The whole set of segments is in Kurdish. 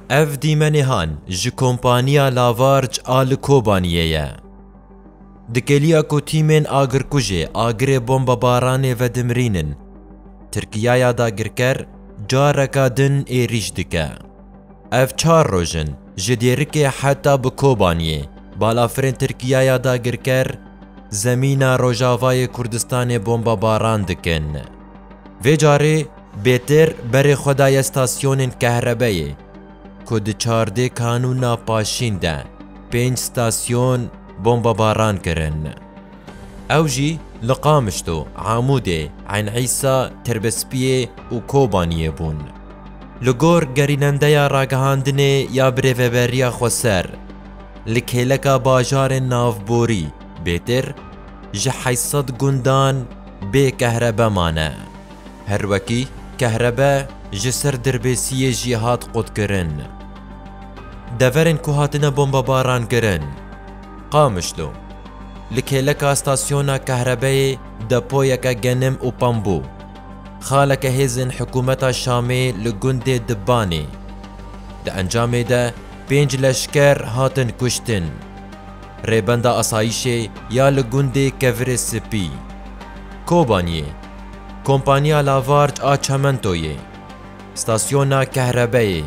Ev dîmenêhan ji kompaniya Lavarj a li Kobaniyê ye. Di kêliya ku tîmên agirkujê agirê bombebaranê vedimirînin, Tirkiyaya dagirker careke din êrîş dike. Ev çar roj in ji dêrikê heta bi Kobaniyê balafirên Tirkiyaya dagirker zemîna rojavayê Kurdistanê bombebaran dikin. Vê carê bêtir berê xwe daye stasyonên kehrebeyê ku di çardê kanûna paşîn de pênc stasyon bombebaran kirin. Ew jî li Qamişlo, Amûdê, Eyn Îsa, Tirbespiyê û Kobaniyê bûn. Li gor gerînendeya ragihandinê ya Birêveberiya Xweser, li kêleka bajarên navborî bêtir ji heşt sed gundan, Bê kehrebe mane. Her wekî kehrebe ji ser Dirbêsiyê jî hat qutkirin. Deverên ku hatine bombebarankirin. Qamişlo. Li kêleka stasyona kehrebeyê depoyeke genim û pambû. Xaleke hêzên hikûmeta Şamê li gundê Dibbanê. Di encamê de pênc leşker hatin kuştin. Rêbenda Asayîşê ya li gundê Kevirê Sipî, Kobaniyê, Kompaniya Lavarç a Çementoyê, Stasyona Kehrebeyê,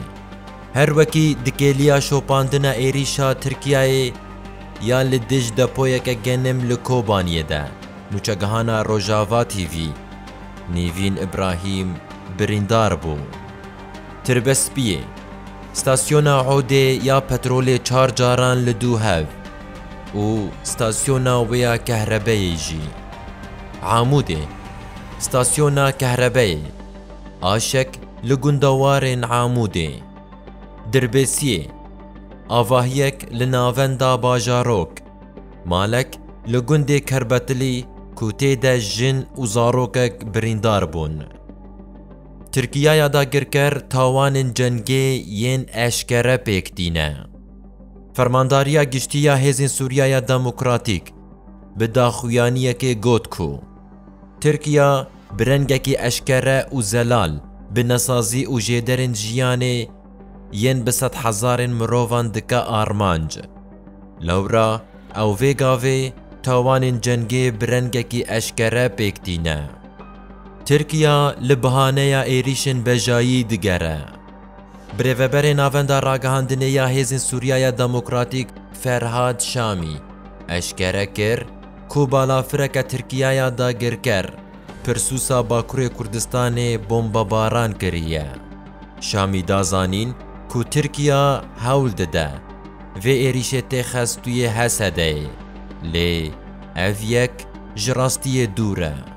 her wekî dikêliya şopandina êrîşa Tirkiyeyê ya li dij depoyeke genim li Kobaniyê de. Nûçegihana Rojava TV, Nîvîn Îbrahîm birîndar bû. Tirbespiyê, Stasyona Odê ya petrolê çar caran li du hev û stasyona wê ya kehrebeyê jî. Amûdê, Stasyona kehrebeyê Aşek li gunda warên Amûdê. Dirbêsiyê, Avahiyek li navenda Bajarok, malek li gundê Kerbetilî ku tê de jin û zarokek birîndar bûn. Tirkiye ya dagirker tawanên cengê yên eşkere pêk tîne. Fermandariya Giştî ya Hêzên Sûriya ya Demokratîk bi daxuyaniyekê got ku Tirkiye bi rengekî eşkere û zelal bi nesazî û jêderên jiyanê yên bi sed hezarên mirovan dike armanc. Lewra ew vê gavê tawanên cengê bi rengekî eşkere pêk tîne. Tirkiya li bihaneya êrîşên bejayî digere. Birêveberê Navenda Ragihandinê ya Hêzên Sûriyaya Demokratîk Ferhad Şamî eşkere kir ku balafireke Tirkiyaya dagirker pirsûsa Bakurê Kurdistanê bombebaran kiriye. Şamî da zanîn ku Tirkiya hewl dide vê êrîşê tê xestûyê Hesedeyê, lê ev yek ji rastiyê dûr e.